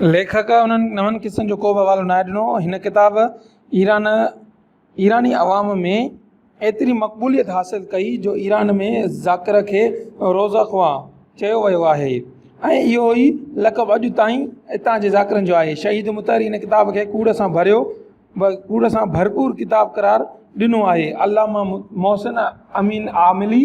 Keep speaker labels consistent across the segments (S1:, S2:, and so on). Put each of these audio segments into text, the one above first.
S1: ليکڪ انهن نون قصن جو ڪو به حوالو ناهي ڏنو هن ڪتاب ايران ايراني عوام ۾ ايتري مقبوليت حاصل ڪئي جو ايران ۾ ذاڪر کي روز اخوان چيو ويو آهي ۽ اهو ئي لقب اڄ تائين اتان جي ذاڪرن جو آهي شهيد مطهري هن ڪتاب کي ڪوڙ سان ڀريو ڪوڙ سان ڀرپور ڪتاب قرار ڏنو آهي علامه محسن امين عاملي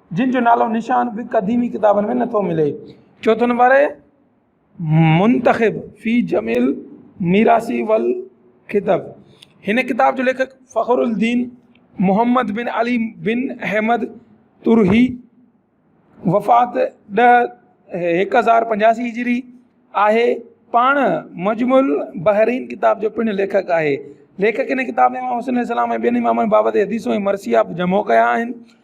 S1: جن جو نالو نشان به قديمي ڪتابن ۾ نٿو ملي. چوٿون نمبر منتخب في جميل ميراثي والخطب هن ڪتاب جو ليکڪ فخر الدين محمد بن علي بن احمد ترهي وفات ڏهه هڪ هزار پنجاسي هجري آهي پاڻ مجموع البحرين ڪتاب جو پڻ ليکڪ آهي ليکڪ هن ڪتاب ۾ امام حسين عليه السلام ۽ ٻين امامن بابت حديثون ۽ مرثيا به جمع ڪيا آهن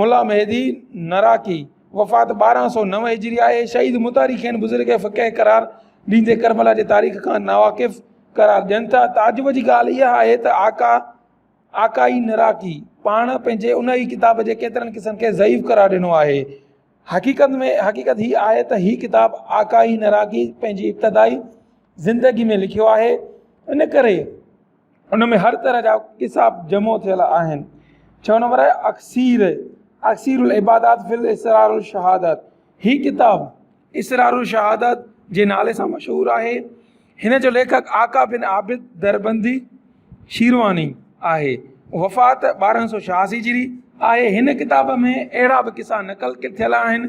S1: ملا مهدي نراقي، وفات ٻارهن سؤ نو هجري، آهي، شهيد متاري کين بزرگ فقيه قرار ڏيندي ڪربلا جي تاريخ کان ناواقف قرار ڏين ٿا. تعجب جي ڳالهه اها آهي ته آقا آقائي نراقي پاڻ پنهنجي ان ئي ڪتاب جي ڪيترن قصن کي ضعيف قرار ڏنو آهي. حقيقت ۾ حقيقت هي آهي ته هي ڪتاب آقائي نراقي پنهنجي ابتدائي زندگي ۾ لکيو آهي، ان ڪري، ان ۾ هر طرح جا قصا جمع ٿيل آهن. ڇهون نمبر آهي اڪسير اڪسير العبادات في الاسرار الشهادات هي ڪتاب اسرار الشهادات جي نالي سان مشهور آهي هن جو ليکڪ آقا بن عابد دربندي شيرواني آهي وفات ٻارهن سو ڇهاسي جي آهي هن ڪتاب ۾ اهڙا به قصا نقل ڪٿل آهن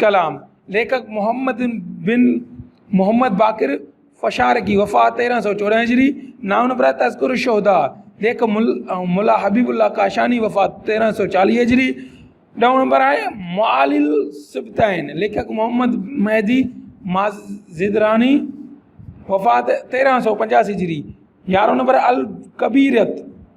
S1: ڪلام، ليکڪ محمد بن محمد باقر فشارقي، وفات تيرهن سؤ چوڏهن هجري، نامنبر آهي تذڪرة الشهداء، ليک مل ملا حبيب الله ڪاشاني، وفات تيرهن سؤ چاليهه هجري، ڏهون نمبر آهي معالي الصبطين، ليکڪ محمد مهدي مازندراني، وفات تيرهن سؤ پنجاسي هجري، يارهون نمبر الڪبيريت،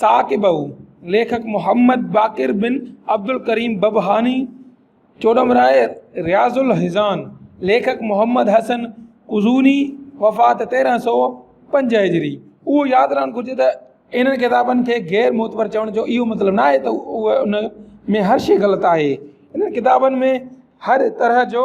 S1: ثاقبه، ليکڪ محمد باقر بن عبدالڪريم ببهاني، چوڏمراهي رياض الحزان، ليکڪ محمد حسن قزوني، وفات تيرهن سؤ پنج هجري، اهو ياد رهڻ گهرجي ته انهن ڪتابن کي غير معتبر چوڻ جو اهو مطلب ناهي ته اهي ان ۾ هر شيء غلط آهي انهن ڪتابن ۾ هر طرح جو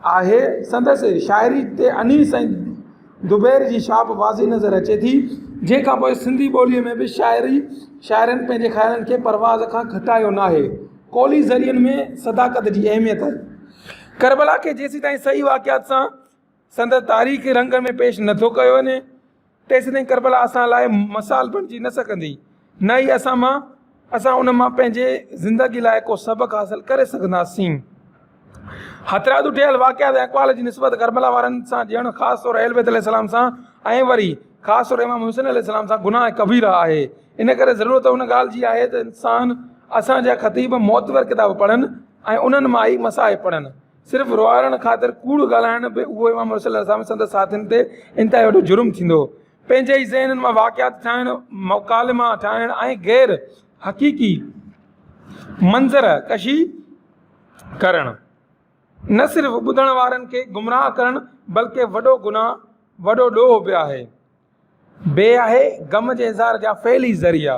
S1: آهي. سندس شاعري تي انيس ۽ دبير جي ڇاپ واضح نظر اچي ٿي. جنهن کان پوء سنڌي ٻوليء ۾ به شاعري شاعرن پنهنجي خيالن کي پرواز کان گهٽايو ناهي. قولي ذريعن ۾ صداقت جي اهميت آهي. ڪربلا کي جيسيتائين صحيح واقعات سان سندس تاريخي رنگ ۾ پيش نٿو ڪيو وڃي. تيسيتائين ڪربلا اسان لاء مثال بڻجي نه سگهندي، نه ئي اسان مان اسان ان مان پنهنجي زندگي لاء ڪو سبق حاصل ڪري سگهنداسين. هٿرادو ٺهيل واقعات ۽ اقوال جي نسبت ڪربلا وارن سان ڄڻ خاص طور اهلبيت عليه السلام سان ۽ وري خاص طور امام حسين عليه السلام سان گناهه ڪبيره آهي. ان ڪري ضرورت ان ڳالهه جي آهي ته انسان اسان جا خطيب معتبر ڪتاب پڙهن ۽ انهن مان ئي مصائب پڙهن. صرف روئارڻ خاطر ڪوڙ ڳالهائڻ به اهو امام حسن عليه السلام ۽ سندس ساٿين تي انتهائي وڏو جرم ٿيندو هو. پنهنجي ئي ذهنن مان واقعات ٺاهڻ، مڪالما ٺاهڻ ۽ غير حقيقي منظر ڪشي ڪرڻ نه صرف ٻڌڻ وارن کي گمراهه ڪرڻ بلڪه وڏو گناهه، وڏو ڏوهه به آهي. بي آهي غم جي اظهار جا فعل ئي ذريعا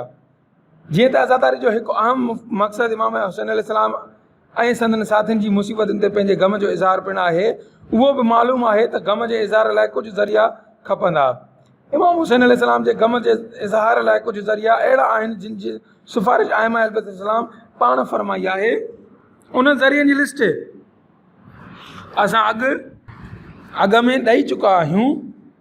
S1: جيئن ته عزاداري جو هڪ اهم مقصد امام حسين عليه السلام ۽ سندن ساٿين جي مصيبتن تي پنهنجي غم جو اظهار پڻ آهي اهو به معلوم آهي ته غم جي اظهار لاء ڪجهه ذريعا کپندا امام حسين عليه السلام جي غم جي اظهار لاء ڪجهه ذريعا اهڙا آهن جن جي سفارش ائمه اهل بيت عليه السلام پاڻ فرمائي آهي انهن ذريعن جي لسٽ اسان اڳ اڳ ۾ ڏئي چڪا آهيون.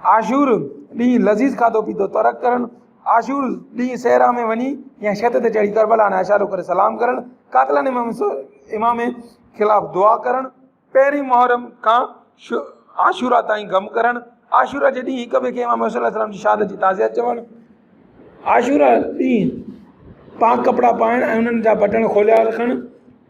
S1: عاشور ڏينهن لذيذ کاڌو پيتو ترڪ ڪرڻ، عاشور ڏينهن صحرا ۾ وڃي يا ڇت تي چڙهي ڪربلا ڏانهن اشارو ڪري سلام ڪرڻ، قاتلان امام خلاف دعا ڪرڻ، پهرين محرم کان عاشورا تائين غم ڪرڻ، عاشورا جي ڏينهن هڪ ٻئي کي امام حسين عليه السلام جي شهادت جي تعزيت چوڻ، عاشورا ڏينهن پاڪ ڪپڙا پائڻ ۽ انهن جا بٽڻ کوليا رکڻ،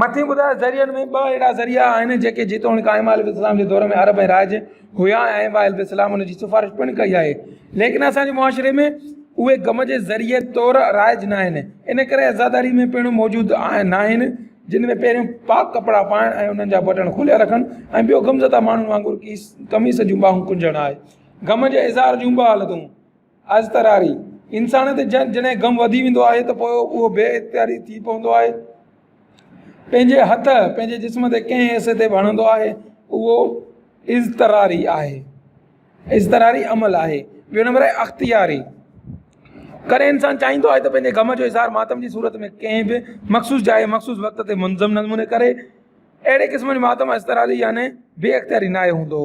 S1: مٿي ٻڌايل ذريعن ۾ ٻه اهڙا ذريعا آهن جيڪي جيتوڻيڪ آئمه عليه السلام جي دور ۾ عرب ۽ رائج هيا ۽ آئمه عليه السلام ان جي سفارش پڻ ڪئي آهي ليڪن اسان جي معاشري ۾ اهي غم جي ذريعي طور رائج نه آهن ان ڪري عزاداري ۾ پڻ موجود آهن نه آهن جن ۾ پهريون پاڪ ڪپڙا پائڻ ۽ انهن جا بٽڻ کوليا رکڻ ۽ ٻيو غم زده ماڻهن وانگر قميص جون ٻانهون ڪنجڻ آهي غم جي اظهار جون ٻه حالتون اضطراري، انسان تي جڏهن غم وڌي ويندو آهي ته پوء اهو بي اختياري ٿي پوندو آهي. پنهنجي هٿ پنهنجي جسم تي ڪنهن حصي تي به هڻندو آهي اهو اضطراري آهي اضطراري عمل آهي. ٻيو نمبر آهي اختياري، ڪڏهن انسان چاهيندو آهي ته پنهنجي غم جو اظهار ماتم جي صورت ۾ ڪنهن به مخصوص جاء مخصوص وقت تي منظم نموني ڪري. اهڙي قسم جو ماتم اضطراري يعنيٰ بي اختياري ناهي هوندو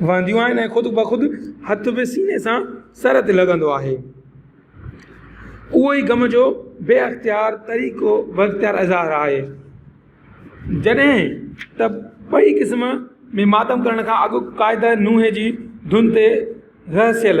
S1: وهنديون آهن ۽ خود بخود هٿ به سيني سان سر تي لڳندو آهي. اهو ئي غم جو بي اختيار طريقو بااختيار اظهار آهي. جڏهن ته ٻئي قسم ۾ ماتم ڪرڻ کان اڳ قاعده نوحي جي ڌن تي رهسيل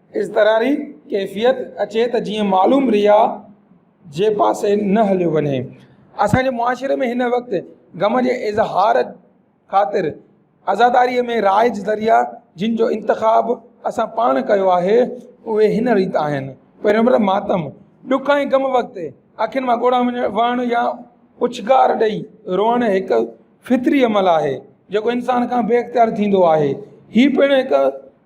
S1: اضطراري ڪيفيت اچي ته جيئن معلوم رياء جي پاسي نه هليو وڃي اسان جي معاشري ۾ هن وقت غم جي اظهار خاطر عزاداري ۾ رائج ذريعا جن جو انتخاب اسان پاڻ ڪيو آهي اهي هن ريت آهن پهريون نمبر ماتم ڏک ۽ غم وقت اکين مان ڳوڙها وهڻ يا اڇنگار ڏئي روئڻ هڪ فطري عمل آهي جيڪو انسان کان بي اختيار ٿيندو آهي هي پڻ هڪ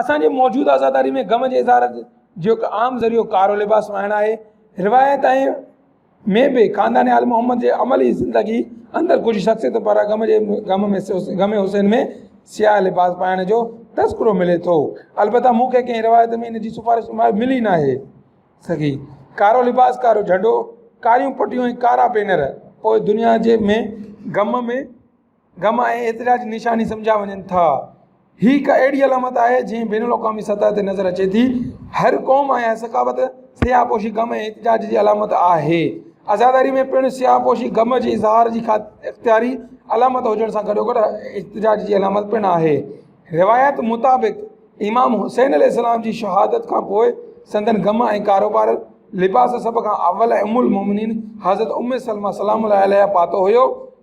S1: اسان جي موجوده عزاداري ۾ غم جي اظهار جو هڪ عام ذريعو ڪارو لباس وائڻ آهي. روايت ۽ ۾ به خاندان آل محمد جي عملي زندگي اندر ڪجهه شخصيتن پاران غم جي غم ۾ غم حسين ۾ سياهه لباس پائڻ جو تذڪرو ملي ٿو. البته مون کي ڪنهن روايت ۾ ان جي سفارش نمايت ملي ناهي سگهي. ڪارو لباس، ڪارو جهنڊو، ڪاريون پٽيون ۽ ڪارا پينر پوء دنيا جي ۾ غم ۾. غم ۽ اعتراض جي نشاني سمجهيا وڃن ٿا. هي هڪ اهڙي علامت آهي جنهن بين الاقوامي سطح تي نظر اچي ٿي. هر قوم ۽ هر ثقافت سياهه پوشي غم ۽ احتجاج جي علامت آهي. عزاداري ۾ پڻ سياهه پوشي غم جي اظهار جي اختياري علامت هجڻ سان گڏوگڏ احتجاج جي علامت پڻ آهي. روايت مطابق امام حسين عليه السلام جي شهادت کان پوء سندن غم ۽ ڪاروبار لباس سڀ کان اول ۽ ام المومنين حضرت ام سلمه سلام الله عليها پاتو هيو.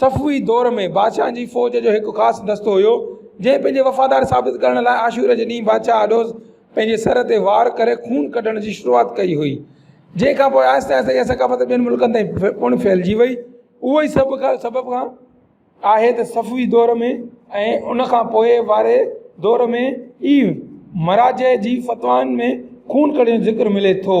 S1: صفوي دور ۾ بادشاهن جي فوج جو هڪ خاص دستو هيو، جنهن پنهنجي وفادار ثابت ڪرڻ لاء عاشور جي ڏينهن بادشاهه آڏوز پنهنجي سر تي وار ڪري خون ڪڍڻ جي شروعات ڪئي هئي. جنهن کان پوء آهستي آهستي اها ثقافت ٻين ملڪن تائين پڻ ڦهلجي وئي. اهو ئي سڀ کان سبب کان آهي ته صفوي دور ۾ ۽ ان کان پوء واري دور ۾ ئي مراجع جي فتوائن ۾ خون ڪڍڻ جو ذڪر ملي ٿو.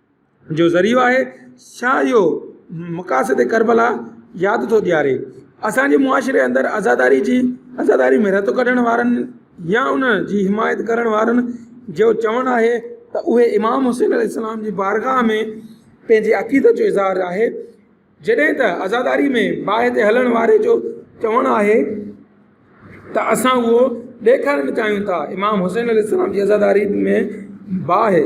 S1: جو ذريعو آهي ڇا اهو مقاصد ڪربلا ياد ٿو ڏياري اسانجي معاشري اندر عزاداري جي عزاداري ۾ رتو ڪڍڻ وارن يا ان جي حمايت ڪرڻ وارن جو چوڻ آهي ته اهي امام حسين عليه السلام جي بارگاهه ۾ پنهنجي عقيدت جو اظهار آهي جڏهن ته عزاداري ۾ باهه تي هلڻ واري جو چوڻ آهي ته اسان اهو ڏيکارڻ چاهيون ٿا امام حسين عليه السلام جي عزاداري ۾ باهه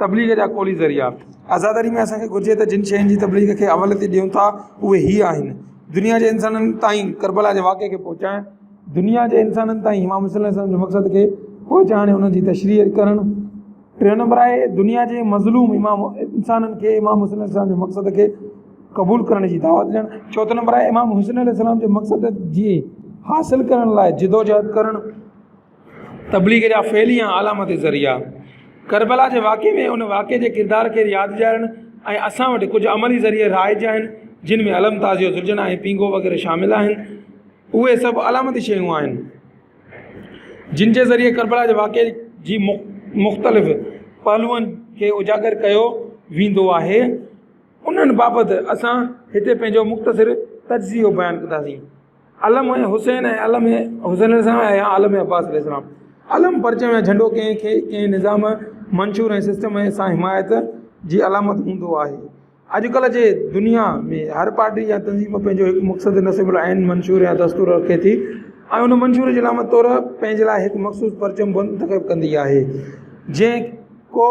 S1: تبليغ جا قولي ذريعا، عزاداري ۾ اسان کي گهرجي ته جن شين جي تبليغ کي اوليت ڏيون ٿا اهي هي آهن، دنيا جي انسانن تائين ڪربلا جي واقعي کي پهچائڻ، دنيا جي انسانن تائين امام حسين عليه السلام جي مقصد کي پهچائڻ ۽ ان جي تشريح ڪرڻ، ٽيون نمبر آهي دنيا جي مظلوم امام انسانن کي امام حسين عليه السلام جي مقصد کي قبول ڪرڻ جي دعوت ڏيڻ، چوٿون نمبر آهي امام حسين عليه السلام جي مقصد جي حاصل ڪرڻ لاء جدوجهد ڪرڻ. تبليغ جا فعلي يا علامتي ذريعا، ڪربلا جي واقعي ۾ ان واقعي جي ڪردار کي ياد ڏيارڻ ۽ اسان وٽ ڪجهه عملي ذريعي رائج آهن جن ۾ علم تعزيو زرجنا ۽ پينگهو وغيره شامل آهن اهي سڀ علامتي شيون آهن جن جي ذريعي ڪربلا جي واقعي جي مختلف پهلوئن کي اجاگر ڪيو ويندو آهي انهن بابت اسان هتي پنهنجو مختصر تجزيو بيان ڪنداسين علم ۽ حسين ۽ علم ۽ حسين عليه السلام ۽ عالم عباس عليه السلام علم پرچم ۽ جهنڊو ڪنهن کي ڪنهن نظام منشور ۽ سسٽم ۽ سان حمايت جي علامت هوندو آهي اڄڪلهه جي دنيا ۾ هر پارٽي يا تنظيم پنهنجو هڪ مقصد نصب العين منشور يا دستور رکي ٿي ۽ ان منشور جي علامت طور پنهنجي لاء هڪ مخصوص پرچم بند تخيب ڪندي آهي جنهن ڪو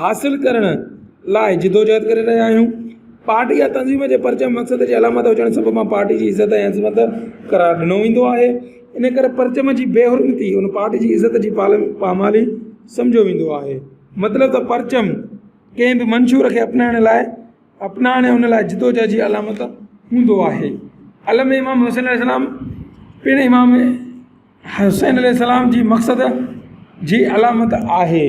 S1: حاصل ڪرڻ لاء جدوجهد ڪري رهيا آهيون، پارٽي يا تنظيم جي پرچم مقصد جي علامت هجڻ سبب ان پارٽي جي عزت ۽ عظمت قرار ڏنو ويندو آهي، ان ڪري پرچم جي بي حرمتي ان پارٽي جي عزت جي پامالي سمجهيو ويندو آهي. مطلب ته پرچم ڪنهن به منشور کي اپنائڻ لاء اپنائڻ ان لاء جدوجهد جي علامت هوندو آهي. علم امام حسين عليه السلام پڻ امام حسين عليه السلام جي مقصد جي علامت آهي.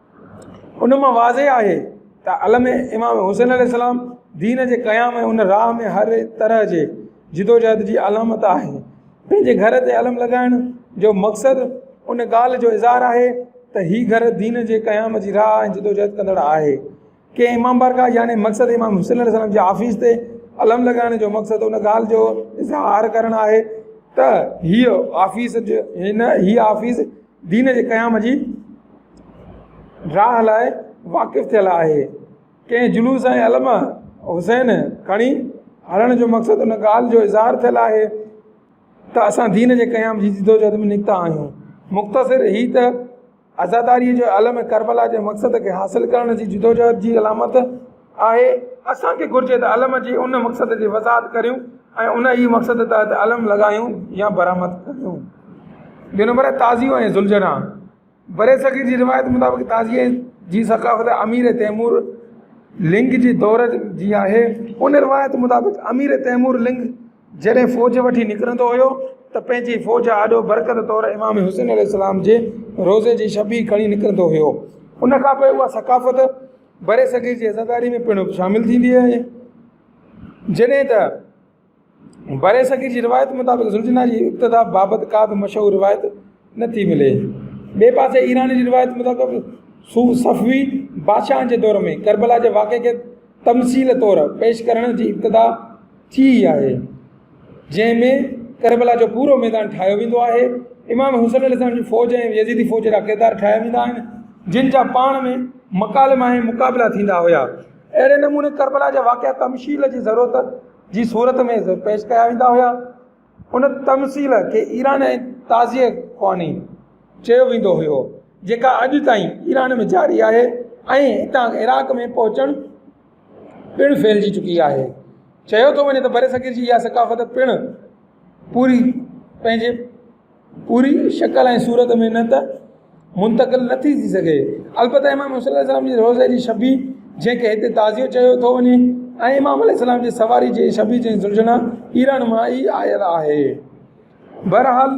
S1: ان مان واضح آهي ته علم امام حسين عليه السلام دين جي قيام ۽ ان راهه ۾ هر طرح جي جدوجهد جي علامت آهي پنهنجي گهر تي علم لڳائڻ جو مقصد ان ڳالهه جو اظهار آهي ته هي گهر دين جي قيام جي راهه ۽ جدوجهد ڪندڙ آهي ڪنهن امام بارگاهه يعني مقصد امام حسين عليه السلام جي آفيس تي علم لڳائڻ جو مقصد ان ڳالهه جو اظهار ڪرڻ آهي ته هيء آفيس هن هيء آفيس دين جي قيام جي راهه لاء واقف ٿيل آهي. ڪنهن جلوس ۽ علم حسين کڻي هلڻ جو مقصد ان ڳالهه جو اظهار ٿيل آهي ته اسان دين جي قيام جي جدوجهد ۾ نڪتا آهيون. مختصر هي ته عزاداريء جو علم ڪربلا جي مقصد کي حاصل ڪرڻ جي جدوجهد جي علامت آهي، اسان کي گهرجي ته علم جي ان مقصد جي وضاحت ڪريون ۽ ان ئي مقصد تحت علم لڳايون يا برآمد ڪريون. ٻيو نمبر آهي تعزيو ۽ ذوالجناح. برصغير جي روايت مطابق تعزيي جي ثقافت امير تيمور لنگ جي دور جي آهي. ان روايت مطابق امير تيمور لنگ جڏهن فوج وٺي نڪرندو هيو ته پنهنجي فوج آڏو برڪت طور امام حسين عليه السلام جي روضي جي شبيهه کڻي نڪرندو هيو. ان کانپوء اها ثقافت برصغير جي عزاداري ۾ پڻ شامل ٿيندي آهي جڏهن ته برصغير جي روايت مطابق زلجنا جي ابتدا بابت ڪا به مشهور روايت نه ٿي ملي ٻئي پاسي ايران جي روايت مطابق سو صفوي بادشاهن جي دور ۾ ڪربلا جي واقعي کي تمثيل طور پيش ڪرڻ جي ابتدا ٿي آهي جنهن ۾ ڪربلا جو پورو ميدان ٺاهيو ويندو آهي امام حسين عليه السلام جي فوج ۽ يزيدي فوج جا ڪردار ٺاهيا ويندا آهن جن جا پاڻ ۾ مڪالما ۽ مقابلا ٿيندا هيا اهڙي نموني ڪربلا جا واقعا تمشيل جي ضرورت جي صورت ۾ پيش ڪيا ويندا هيا ان تمصيل کي ايران ۽ تازيء خواني چيو ويندو هيو جيڪا اڄ تائين ايران ۾ جاري آهي ۽ هتان عراق ۾ پهچڻ پڻ ڦهلجي چڪي آهي. چيو ٿو وڃي ته برصغير جي اها ثقافت پڻ پوري پنهنجي پوري شڪل ۽ صورت ۾ نه ته منتقل نه ٿي ٿي سگهي البته امام حسين عليه السلام جي روضي جي شبيهه جنهن کي هتي تعزيو چيو ٿو وڃي ۽ امام عليه السلام جي سواري جي شبيهه جي سرجڻا ايران مان ئي آيل آهي بهرحال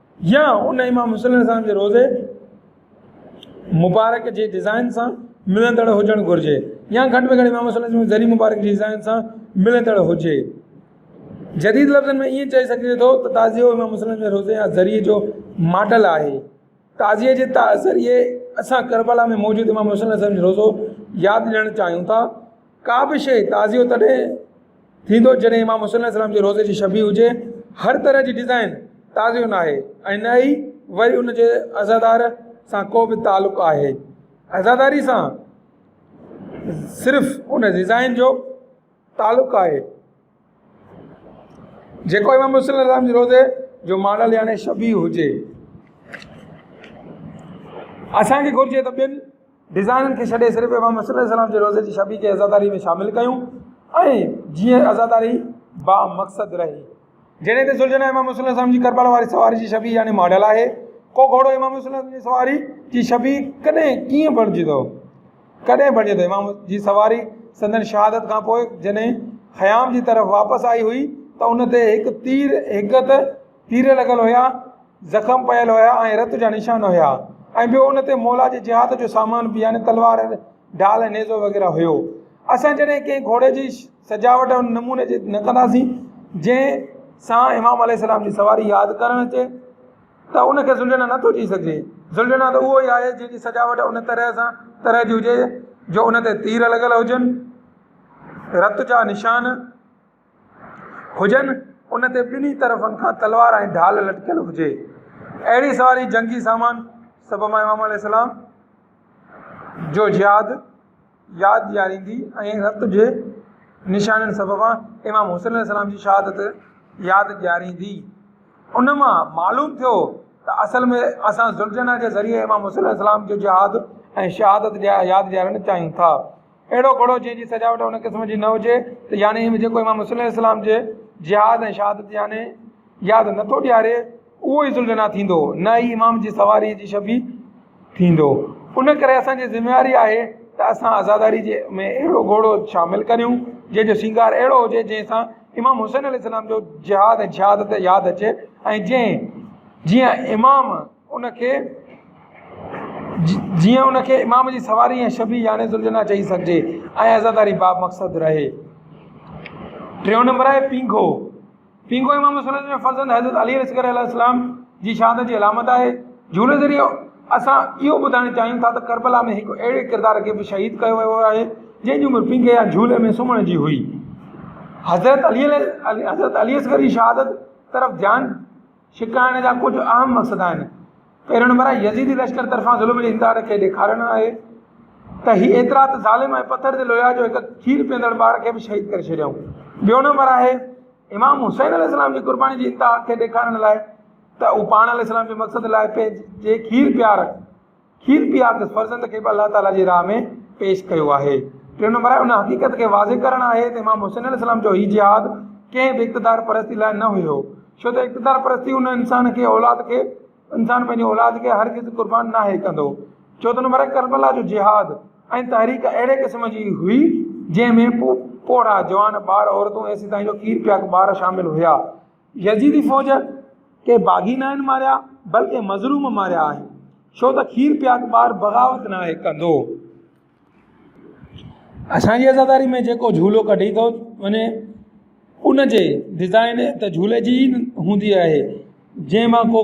S1: يا ان امام حسين عليه السلام جي روضي مبارڪ جي ڊزائن سان ملندڙ هجڻ گهرجي يا گهٽ ۾ گهٽ امام حسين عليه السلام جي ذري مبارڪ جي ڊزائن سان ملندڙ هجي جديد لفظن ۾ ائين چئي سگهجي ٿو ته تعزيو امام حسين عليه السلام جي روضي يا ذري جو ماڊل آهي تعزيي جي ذريعي اسان ڪربلا ۾ موجود امام حسين عليه السلام جو روضو ياد ڏيڻ چاهيون ٿا ڪا به شيء تعزيو تڏهن ٿيندو جڏهن امام حسين عليه السلام جي روضي جي شبيهه هجي هر طرح جي ڊزائن تعزيو نه آهي ۽ نه ئي وري ان جي عزادار سان ڪو به تعلق آهي عزاداري سان صرف ان ڊزائن جو تعلق آهي جيڪو امام حسين عليه السلام جي روضي جو ماڊل يعنيٰ شبيهه هجي اسانکي گهرجي ته ٻين ڊزائنن کي ڇڏي صرف امام حسين عليه السلام جي روضي جي شبيهه کي عزاداري ۾ شامل ڪيون ۽ جيئن عزاداري با مقصد رهي جڏهن ته سلجهنا امام حسين عليه السلام جي ڪربلا واري سواري جي شبيهه يعني ماڊل آهي ڪو گهوڙو امام حسين عليه السلام جي سواري جي شبيهه ڪڏهن ڪيئن بڻجي ٿو ڪڏهن بڻجي ته امام جي سواري سندن شهادت کان پوء جڏهن خيام جي طرف واپس آئي هئي ته ان تي هڪ تير هڪ ته تير لڳل هيا زخم پيل هيا ۽ رت جا نشان هيا ۽ ٻيو ان تي مولا جي جهاد جو سامان به يعني تلوار ڍال نيزو وغيره هيو اسان جڏهن ڪنهن گهوڙي جي سجاوٽ ان نموني جي نه ڪنداسين جنهن سان امام عليه السلام جي سواري ياد ڪرڻ اچي ته ان کي زلجهڻ نه ٿو چئي سگهجي. زلجهڻ ته اهو ئي آهي جنهن جي سجاوٽ ان طرح سان طرح جي هجي جو ان تي تير لڳل هجن، رت جا نشان هجن، ان تي ٻنهي طرفن کان تلوار ۽ ڍال لٽڪيل هجي. اهڙي سواري جنگي سامان سڀ مان امام عليه السلام جو جهاد. ياد ڏياريندي ۽ رت جي نشانين سببان امام حسين عليه السلام جي شهادت ياد ڏياريندي. ان مان معلوم ٿيو ته اصل ۾ اسان ذوالجناح جي ذريعي امام حسين عليه السلام جو جهاد ۽ شهادت ياد ڏيارڻ چاهيون ٿا. اهڙو گهوڙو جنهن جي سجاوٽ ان قسم جي نه هجي ته يعني جيڪو امام حسين عليه السلام جي جهاد ۽ شهادت يعني ياد نٿو ڏياري، اهو ئي ذوالجناح ٿيندو، نه ئي امام جي سواريء جي شفيع ٿيندو. ان ڪري اسان جي ذميواري آهي ته اسان عزاداري جي ۾ اهڙو گهوڙو شامل ڪريون، جنهن جو سينگار اهڙو هجي، جنهن سان امام حسين عليه السلام جو جهاد ۽ شهادت ياد اچي ۽ جنهن جيئن امام ان کي جيئن ان کي امام جي سواري ۽ شفيع يعني ذوالجناح چئي سگهجي ۽ عزاداري بامقصد رهي. ٽيون نمبر آهي پينگهو. پينگهو امام حسن جي فرزند حضرت علي اصغر عليه السلام جي شهادت جي علامت آهي. جهولي ذريعي اسان اهو ٻڌائڻ چاهيون ٿا ته ڪربلا ۾ هڪ اهڙي ڪردار کي به شهيد ڪيو ويو آهي جنهن جي عمر پينگهي يا جهولي ۾ سمهڻ جي هئي. حضرت علي حضرت علي اصغر جي شهادت طرف ڌيان ڇڪائڻ جا ڪجهه اهم مقصد آهن، پهريون نمبر آهي يزيدي لشڪر طرفان ظلم جي انڪار کي ڏيکارڻ آهي ته هي ايترا ته ظالم ۽ پٿر جي لويا جو هڪ کير پيئندڙ ٻار کي به شهيد ڪري ڇڏيائون. ٻيو نمبر آهي امام حسين عليه السلام جي قرباني جي انتها کي ڏيکارڻ لاء ته هو پاڻ عليه السلام جي مقصد لاء پنهنجي کير پيار کير پيارندس فرزند کي به الله تعالي جي راهه ۾ پيش ڪيو آهي ٽيون نمبر آهي ان حقيقت کي واضح ڪرڻ آهي ته امام حسين عليه السلام جو هي جهاد ڪنهن به اقتدار پرستي لاء نه هيو ڇو ته اقتدار پرستي ان انسان کي اولاد کي انسان پنهنجي اولاد کي هرگز قربان ناهي ڪندو چوٿون نمبر آهي ڪربلا جو جهاد ۽ تحريڪ اهڙي قسم جي هئي جنهن ۾ پوڙها جوان ٻار عورتون ايسي تائين جو کير پياڪ ٻار شامل هيا يزيدي فوج ڪي باغي ناهن ماريا بلڪه مظلوم ماريا آهن ڇو ته کير پياد ٻار بغاوت ناهي ڪندو. اسان جي عزاداري ۾ جيڪو جهولو ڪڍي ٿو وڃي ان جي ڊزائن ته جهولي جي هوندي آهي جنهن مان ڪو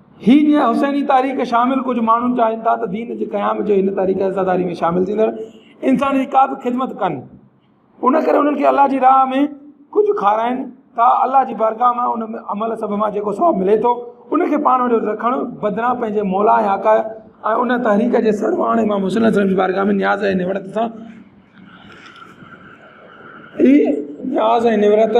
S1: هي جيئن حسيني تاريخ شامل ڪجهه ماڻهن چاهين ٿا ته دين جي قيام جو هن تاريخ عزاداري ۾ شامل ٿيندڙ انسان جي ڪا به خدمت ڪن ان ڪري انهن کي الله جي راهه ۾ ڪجهه کارائن ٿا الله جي بارگاهه مان ان ۾ عمل سڀ مان جيڪو ثواب ملي ٿو ان کي پاڻ وٽ رکڻ بدران پنهنجي مولا ۽ آقا ۽ ان تحريڪ جي سرواڻ امام حسين صاحب جي بارگاهه ۾ نياز ۽ نوڙت سان نياز ۽ نوڙت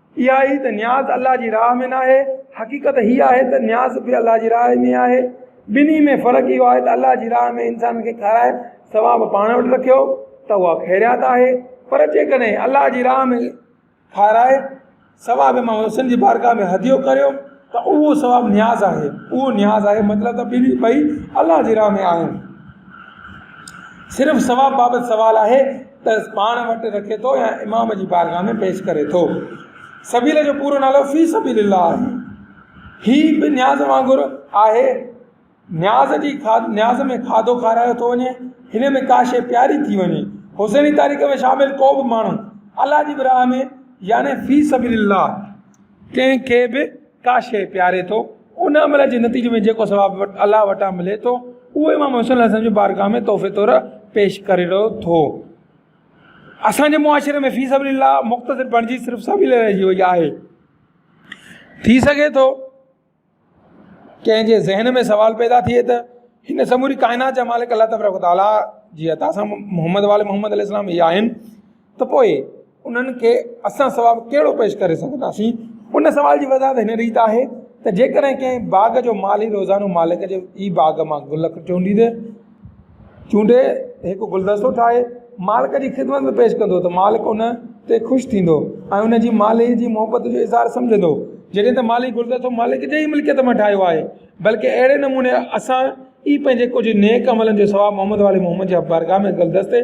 S1: اها هي ته نياز الله جي راهه ۾ ناهي، حقيقت هيء آهي ته نياز به الله جي راهه ۾ آهي، ٻنهي ۾ فرق اهو آهي ته الله جي راهه ۾ انسان کي کارائي ثواب پاڻ وٽ رکيو ته اها خيريات آهي، پر جيڪڏهن الله جي راهه ۾ کارائي ثواب مان وسيلن جي بارگاهه ۾ هديو ڪريو ته اهو ثواب نياز آهي، اهو نياز آهي، مطلب ته ٻنهي ٻئي الله جي راهه ۾ آهن. صرف ثواب بابت سوال آهي. تس پاڻ وٽ رکي ٿو يا امام جي بارگاھ ۾ پيش ڪري ٿو. سبيل جو پورو نالو في سبيل الله آهي. هي به نياز وانگر آهي. نياز جي نياز ۾ کاڌو کارايو ٿو وڃي. هن ۾ ڪا شيء پياري ٿي وڃي. حسيني تاريخ ۾ شامل ڪو به ماڻهو الله جي به راھ ۾ يعني في سبيل الله ڪنهن کي به ڪا شيء پياري ٿو، ان عمل جي نتيجي ۾ جيڪو ثواب الله وٽان ملي ٿو، اهو امام حسين عليه السلام جي بارگاهه ۾ تحفي طور پيش ڪري رهيو ٿو. اسان جي معاشري ۾ في سبيل الله مختصر بڻجي صرف سبيل رهجي وئي آهي. ٿي سگهي ٿو ڪنهن جي ذهن ۾ سوال پيدا ٿئي ته هن سموري ڪائنات جا مالڪ الله تبارڪ و تعاليٰ جي عطا سان محمد وآل محمد عليه السلام هي آهن، ته پوء انهن کي اسان سوا ڪهڙو پيش ڪري سگهنداسين؟ ان سوال جي وضاحت هن ريت آهي ته جيڪڏهن ڪنهن باغ جو مالهي روزانو مالڪ جي ئي باغ مان گل چونڊيندي چونڊي هڪ گلدستو ٺاهي مالڪ جي خدمت ۾ پيش ڪندو ته مالڪ ان تي خوش ٿيندو ۽ ان جي مالهي جي محبت جو اظهار سمجهندو جڏهن ته مالهي گلدستو مالڪ جي ئي ملڪيت مان ٺاهيو آهي بلڪه اهڙي نموني اسان ئي پنهنجي ڪجهه نيڪ عملن جو ثواب محمد والي محمد جي بارگاهه ۾ گلدستي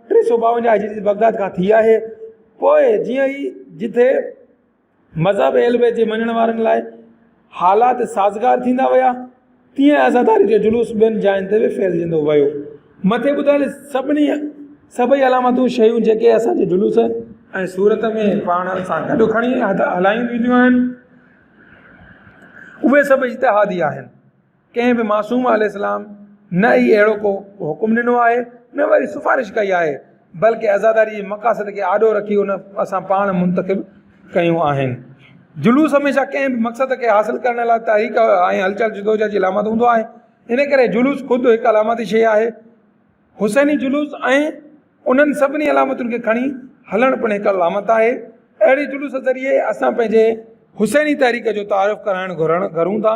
S1: ٽي سؤ ٻاونجاهه هجري جي بغداد کان ٿي آهي پوء جيئن ئي جتي مذهب اهل بيت جي مڃڻ وارن لاء حالات سازگار ٿيندا ويا تيئن عزاداري جو جلوس ٻين جاين تي به ڦهلجندو ويو مٿي ٻڌايل سڀني سڀئي علامتون شيون جيڪي اسانجي جلوس ۽ صورت ۾ پاڻ سان گڏ کڻي هلايون وينديون آهن اهي سڀ اجتهادي آهن ڪنهن به معصوم عليه السلام نه ئي اهڙو ڪو حڪم ڏنو آهي نه وري سفارش ڪئي آهي بلڪه عزاداري جي مقاصد کي آڏو رکي ان اسان پاڻ منتخب ڪيون آهن جلوس هميشه ڪنهن به مقصد کي حاصل ڪرڻ لاء تحريڪ ۽ هلچل جدوجهد جي علامت هوندو آهي ان ڪري جلوس خود هڪ علامتي شيء آهي حسيني جلوس ۽ انهن سڀني علامتن کي کڻي هلڻ پڻ هڪ علامت آهي اهڙي جلوس ذريعي اسان پنهنجي حسيني تحريڪ جو تعارف ڪرائڻ گهرڻ گهرون ٿا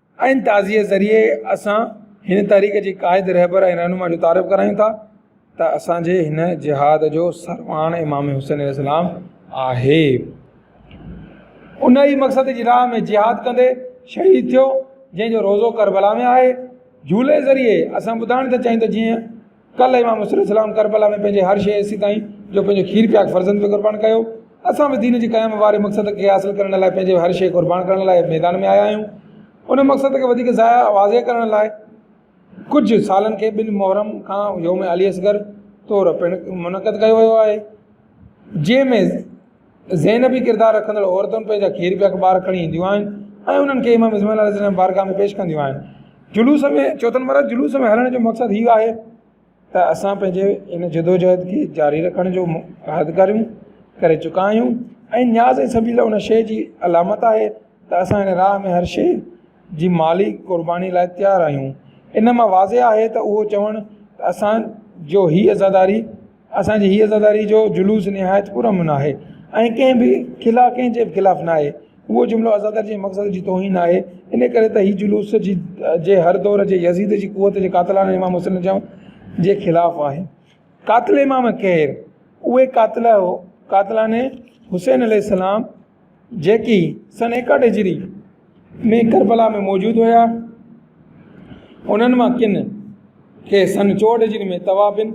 S1: ان تعزيي ذريعي اسان هن تحريڪ جي قائد رهبر ۽ رهنما جو تعارف ڪرايون ٿا ته اسانجي هن جهاد جو سرواڻ امام حسين عليه السلام آهي ان ئي مقصد جي راهه ۾ جهاد ڪندي شهيد ٿيو جنهن جو روضو ڪربلا ۾ آهي جهولي ذريعي اسان ٻڌائڻ ٿا چاهيون ته جيئن ڪلهه امام حسين عليه السلام ڪربلا ۾ پنهنجي هر شيء حصي تائين جو پنهنجو کير پياڪ فرزند به قربان ڪيو اسان به دين جي قيام واري مقصد کي حاصل ڪرڻ لاء پنهنجي هر شيء قربان ڪرڻ لاء ميدان ۾ آيا آهيون ان مقصد کي وڌيڪ ضايع واضح ڪرڻ لاء ڪجهه سالن کي ٻن محرم کان يوم علي اصغر طور پڻ منعقد ڪيو ويو آهي جنهن ۾ زينبي ڪردار رکندڙ عورتون پنهنجا کير پيا ٻار کڻي اينديون آهن ۽ انهن کي امام اسماعيل عليه السلام جي بارگاهه ۾ پيش ڪنديون آهن جلوس ۾ چوٿ نمبر آهي جلوس ۾ هلڻ جو مقصد هي آهي ته اسان پنهنجي ان جدوجهد کي جاري رکڻ جو عهد ڪريون ڪري چڪا آهيون ۽ نياز ۽ سبيل ان شيء جي علامت آهي ته اسان هن راهه ۾ هر شيء جي مالي قرباني لاء تيار آهيون ان مان واضح آهي ته اهو چوڻ ته اسان جو هي عزاداري اسان جي هي عزاداري جو جلوس نهايت پر امن آهي ۽ ڪنهن به خلاف ڪنهن جي به خلاف ناهي اهو جملو عزاداري جي مقصد جي توهين آهي ان ڪري ته هي جلوس جي جي هر دور جي يزيد جي قوت جي قاتلانه امام حسين جا جي خلاف آهي قاتل امام ڪير اهي قاتل قاتلانه حسين عليه السلام جيڪي سن ايڪاٽ هجري ۾ ڪربلا ۾ موجود هيا انهن مان ڪن کي سن چوهٺ هجري ۾ توابين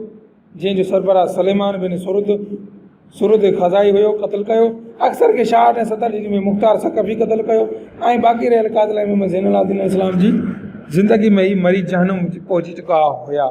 S1: جنهن جو سربراهه سليمان بن سرد سرد خزاعي هيو قتل ڪيو اڪثر کي شاهه ۽ ستر هجري ۾ مختار ثقفي قتل ڪيو ۽ باقي رهيل قاتل زين العابدين عليه السلام جي زندگي ۾ ئي مري جهنم پهچي چڪا هيا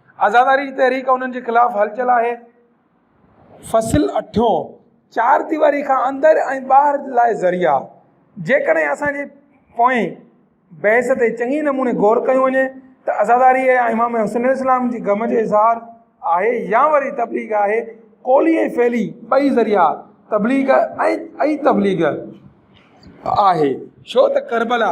S1: آزاداري جي تحريڪ انهن جي خلاف هلچل آهي. فصل اٺيون، چار ديواري کان اندر ۽ ٻاهر لاء ذريعا، جيڪڏهن اسان جي پوئين بحث تي چڱي نموني غور ڪيو وڃي ته عزاداري يا امام حسن عليه السلام جي غم جو اظهار آهي يا وري تبليغ آهي، قولي ۽ فعلي ٻئي ذريعا تبليغ ۽ ئي تبليغ آهي، ڇو ته ڪربلا.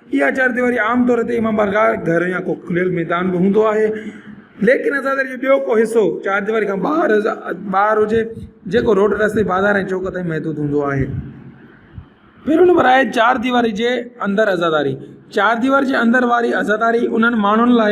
S1: اها چارديواري عام طور تي امام بارگاهه، گهر يا ڪو کليل ميدان به هوندو آهي. ليڪن اسان دري جو ٻيو ڪو حصو چارديواري کان ٻاهر ٻاهر هجي جيڪو روڊ رستي بازار ۽ چوڪ تائين محدود هوندو آهي. پهريون نمبر آهي چارديواري جي اندر عزاداري، چارديواري جي اندر واري عزاداري انهن ماڻهن لاء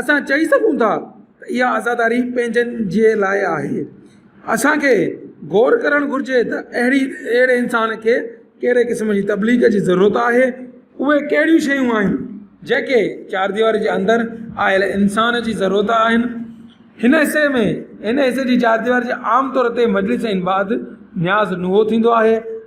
S1: اسان چئي سگهون ٿا ته اها عزاداري پنهنجن جي لاء آهي. اسان کي غور ڪرڻ گهرجي ته اهڙي اهڙي انسان کي ڪهڙي قسم جي تبليغ جي ضرورت آهي. اهي ڪهڙيون شيون آهن جيڪي چارديواري جي اندر آيل انسان جي ضرورت آهن. هن حصي ۾، هن حصي جي چارديواري جي عام طور تي مجلس ۽ بعد نياز نوحو ٿيندو آهي.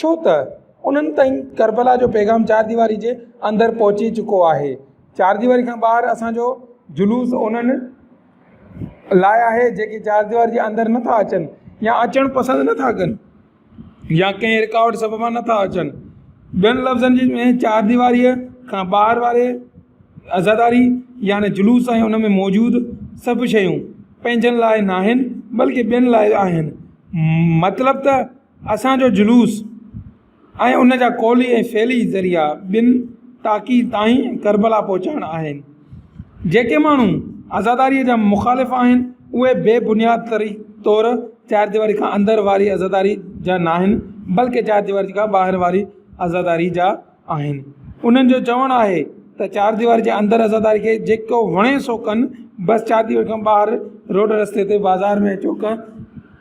S1: ڇو ته انهن تائين ڪربلا جو پيغام چار ديواري جي اندر پهچي چڪو آهي چار ديواري کان ٻاهر اسان جو جلوس انهن لاء آهي جيڪي چار ديواري جي اندر نٿا اچن يا اچڻ پسند نٿا ڪن يا ڪنهن رڪاوٽ سببان نٿا اچن ٻين لفظن جي ۾ چار ديواري کان ٻاهر واري عزاداري يعني جلوس ۽ ان ۾ موجود سڀ شيون پنهنجن لاء ناهن بلڪه ٻين لاء آهن مطلب ته اسان جو جلوس ۽ ان جا قولي ۽ فعلي ذريعا ٻن تاڪي تائين ڪربلا پهچائڻ آهن. جيڪي ماڻهو عزاداريء جا مخالف آهن، اهي بي بنياد طور چارديواري کان اندر واري عزاداري جا ناهن، بلڪه چارديواري کان ٻاهر واري عزاداري جا آهن. انهن جو چوڻ آهي ته چارديواري جي اندر عزاداري کي جيڪو وڻي سو ڪن، بس چارديواري کان ٻاهر روڊ رستي تي بازار ۾ چوڪ،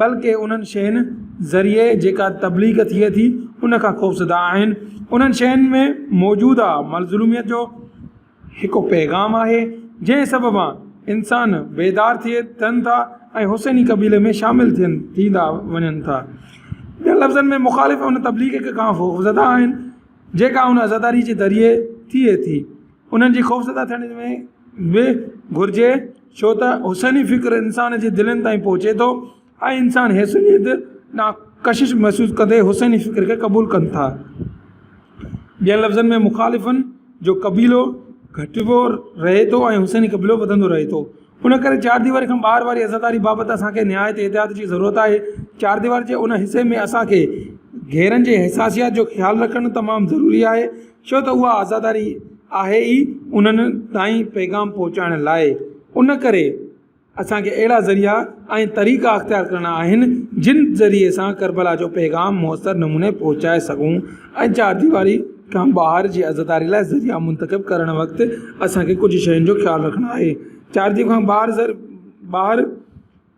S1: بلڪ انهن شين ذريعي جيڪا تبليغ ٿئي ٿي ان کان خوفزده آهن انهن شين ۾ موجوده مظلوميت جو هڪ پيغام آهي جنهن سببا انسان بيدار ٿئي ٿين ٿا ۽ حسيني قبيلي ۾ شامل ٿين ٿيندا وڃن ٿا ٻين لفظن ۾ مخالف ان تبليغ کي کان خوفزده آهن جيڪا ان عزاداري جي ذريعي ٿئي ٿي انهن جي خوفزده ٿيڻ ۾ به گهرجي ڇو ته حسيني فڪر انسان جي دلين تائين پهچي ٿو ۽ انسان حيثيت نا ڪشش محسوس ڪندي حسيني فڪر کي قبول ڪن ٿا ٻين لفظن ۾ مخالفن جو قبيلو گهٽبو رهي ٿو ۽ حسيني قبيلو وڌندو رهي ٿو ان ڪري چار ديواري کان ٻاهر واري عزاداري بابت اسانکي نهايت احتياط جي ضرورت آهي چار ديواري جي ان حصي ۾ اسانکي گهيرن جي حساسيات جو خيال رکڻ تمام ضروري آهي ڇو ته اها عزاداري آهي ئي انهن تائين پيغام پهچائڻ لاء. ان ڪري اسان کي اهڙا ذريعا ۽ طريقا اختيار ڪرڻا آهن، جن ذريعي سان ڪربلا جو پيغام موثر نموني پهچائي سگهون ۽ چارديواري کان ٻاهر جي عزاداري لاء ذريعا منتخب ڪرڻ وقت اسان کي ڪجهه شين جو خيال رکڻو آهي. چارديواري کان ٻاهر ٻاهر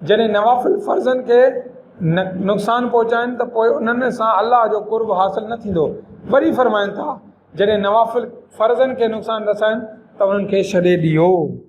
S1: جڏهن نوافل فرضن کي نقصان پهچائن ته پوء انهن سان الله جو قرب حاصل نه ٿيندو. وري فرمائن ٿا، جڏهن نوافل فرضن کي نقصان رسائن ته انهن کي ڇڏي ڏيو.